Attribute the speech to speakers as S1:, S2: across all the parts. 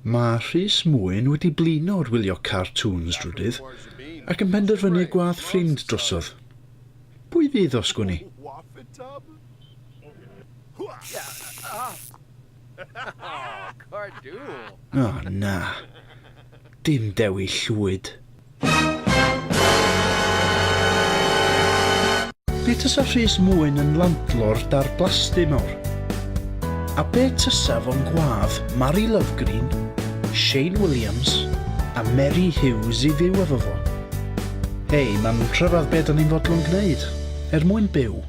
S1: Mae Rhys Mwyn wedi blino ar wylio cartŵns drydydd ac yn penderfynu gwadd ffrind drosodd. Pwy fydd o, sgwni? O na, dim Dewi Llwyd. Be tasa Rhys Mwyn yn landlord dar blasty mawr? A be tasa fo'n gwadd Mari Lovegreen, Shane Williams a Meri Hughes i fyw efo fo? Hei, mae'n rhyfedd be da ni'n fodlon gwneud, er mwyn byw.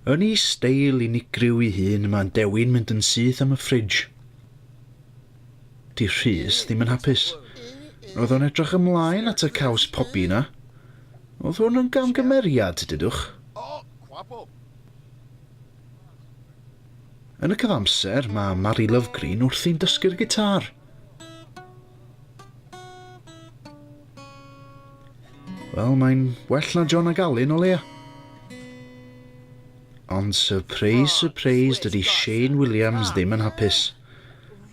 S1: Yn ei steil unigryw ei hun, mae'n dewi'n mynd yn syth am y ffridge. Di Rhys ddim yn hapus. Roedd o'n edrych ymlaen at y caws pobi yna. Oedd hwn yn gamgymeriad, dydwch? Yn y cyfamser, mae Mari Lovegreen wrthi'n dysgu'r gitar. Wel, mae'n well na John a Galyn o leia. Ond surprise, surprise, dydy Shane Williams ddim yn hapus.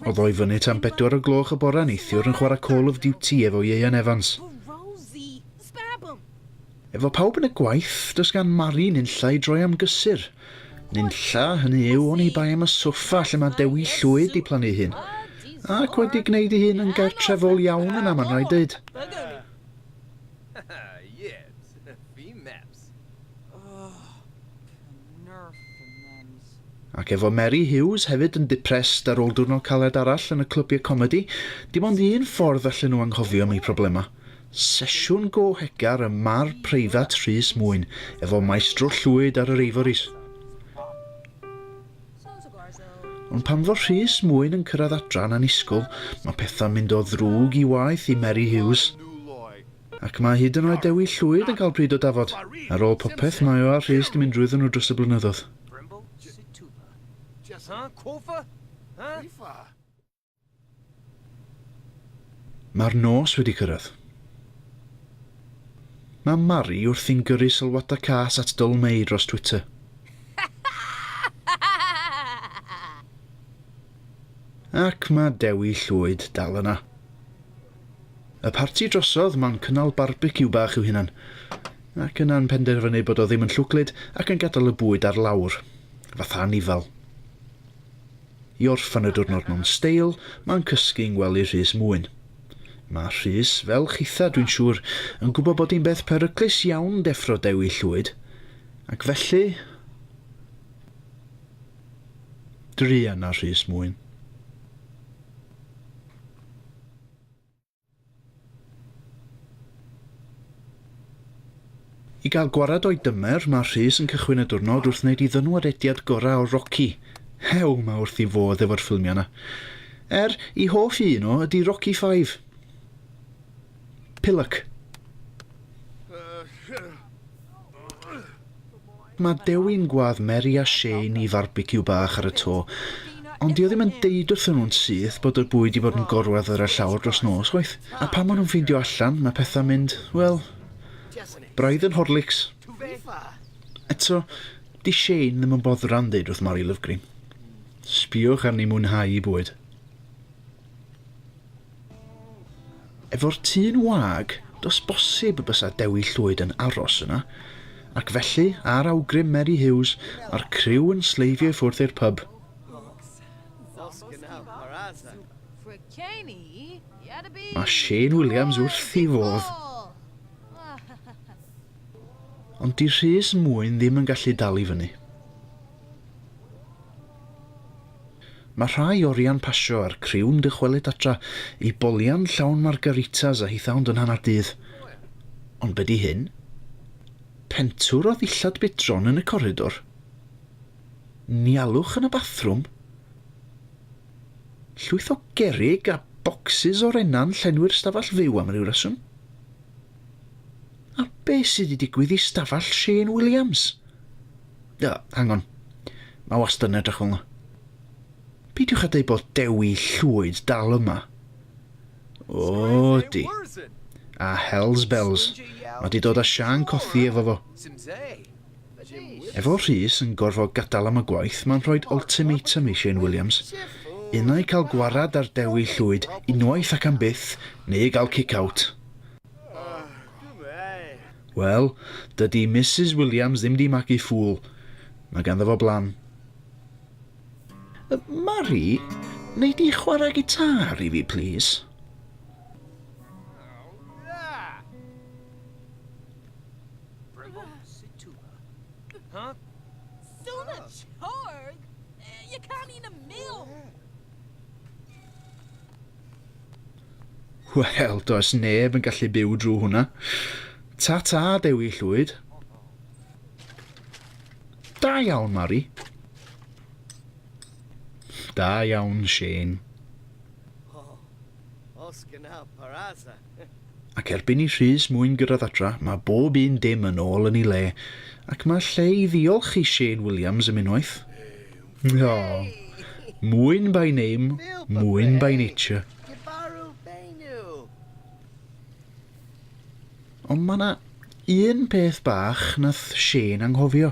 S1: O ddoi fyny tan bedwar o gloch y bora neithiwr yn chwarae Call of Duty efo Ieuan Evans. Efo pawb yn y gwaith, does gan Mari nunlla i droi am gysur. Nunlla, hynny yw, oni bai am y soffa lle mae Dewi Llwyd 'di plannu ei hun. Ac wedi gwneud ei hun yn gartrefol iawn yna, mae'n rhaid deud. Ac efo Meri Huws hefyd yn depressed ar ôl diwrnod caled arall yn y clybiau comedi, dim ond un ffordd allen nhw anghofio am eu problemau, sesiwn go-hegar ym mar preifat Rhys Mwyn efo Maestro Llwyd ar yr Ivories. Ond pan fo Rhys Mwyn yn cyrraedd adra yn annisgwl, mae pethau'n mynd o ddrwg i waeth i Meri Huws. Ac mae hyd yn oed Dewi Llwyd yn cael pryd o dafod. Ar ôl popeth, mae o a Rhys 'di mynd drwyddon nhw dros y blynyddodd. Mae'r nos wedi cyrraedd. Mae Mari wrthi'n gyrru sylwadau cas at Dyl Mei dros Twitter. Ac mae Dewi Llwyd dal yna. Y parti drosodd, mae'n cynnal barbeciw bach i'w hunan. Ac yna'n penderfynu bod o ddim yn llwglyd ac yn gadael y bwyd ar lawr. Fatha anifal. I orffen y diwrnod mewn steil, mae'n cysgu yng ngwely Rhys Mwyn. Mae Rhys, fel chitha dwi'n siŵr, yn gwybod bod hi'n beth peryclus iawn deffro Dewi Llwyd, ac felly, druan ar Rhys Mwyn. I gael gwared o'i dymer, mae Rhys yn cychwyn y diwrnod wrth wneud ei ddywnwadediad gorau o Rocky. Hew, mae wrth i fodd efo'r ffilmiau 'na. Er, i hoff i un o ydy Rocky Five. Pillock. Mae Dewin Gwlad Mary a Shane i farbeciw bach ar y to, ond dio ddim yn deud wrthyn nhw'n syth bod y bwyd di bod yn gorwedd ar y llawr dros nos, chwaith. A pan ma nhw'n ffeindio allan, mae pethau'n mynd, wel, braidd yn Horlicks. Eto, di Shane ddim yn boddran deud wrth Mari Lovegreen, Sbiwch arni mwynhau i bwyd. Efo'r tŷ'n wag, does bosib y bysa Dewi Llwyd yn aros yna, ac felly, ar awgrym Meri Huws, mae'r criw yn sleifio i ffwrdd i'r pyb. Mae Shane Williams wrth i fodd. Ond di Rhys Mwyn ddim yn gallu dal i fyny. Mae rhai o rian pasio a'r criw'n dychwelyd adra i bolian llawn margaritas a hithau'n dod hanner dydd. Ond be di hyn? Pentwr o ddillad bidron yn y coridor? Nialwch yn y bathrwm? Llwyth o gerrig a bocsys o rena'n llenwi'r stafell fyw am ryw reswm? A be sydd wedi digwydd i stafell Shane Williams? Uh, hang on. Mae wastad yn edrych fel yna. Peidiwch â dweud bod Dewi Llwyd dal yma. O, di. A Hells Bells. Mae di dod â Sian cothi efo fo. Efo Rhys yn gorfod gadael am y gwaith mae'n rhoid ultimatum i Shane Williams, unai cael gwarad ar Dewi Llwyd unwaith ac am byth neu gael kick-out. Wel, dydi Misus Williams ddim 'di magu ffŵl, mae ganddo fo blan. Mari, wnei di chwarae gitâr i fi plîs? Bravo, Situla. Huh? Sula oh. Chorg? Eh, you can't eat a meal! Wel, does neb yn gallu byw drwy hwnna. Ta-ta, Dewi Llwyd. Da iawn, Mari. Da iawn, Shane. Oh, os gyna paraza. Ac erbyn i Rhys Mwyn gyrraedd adra, mae bob un dim yn ôl yn ei le, ac mae lle i ddiolch i Shane Williams am unwaith. O, Mwyn by name, Mwyn by nature. Ond mae yna un peth bach nath Shane anghofio.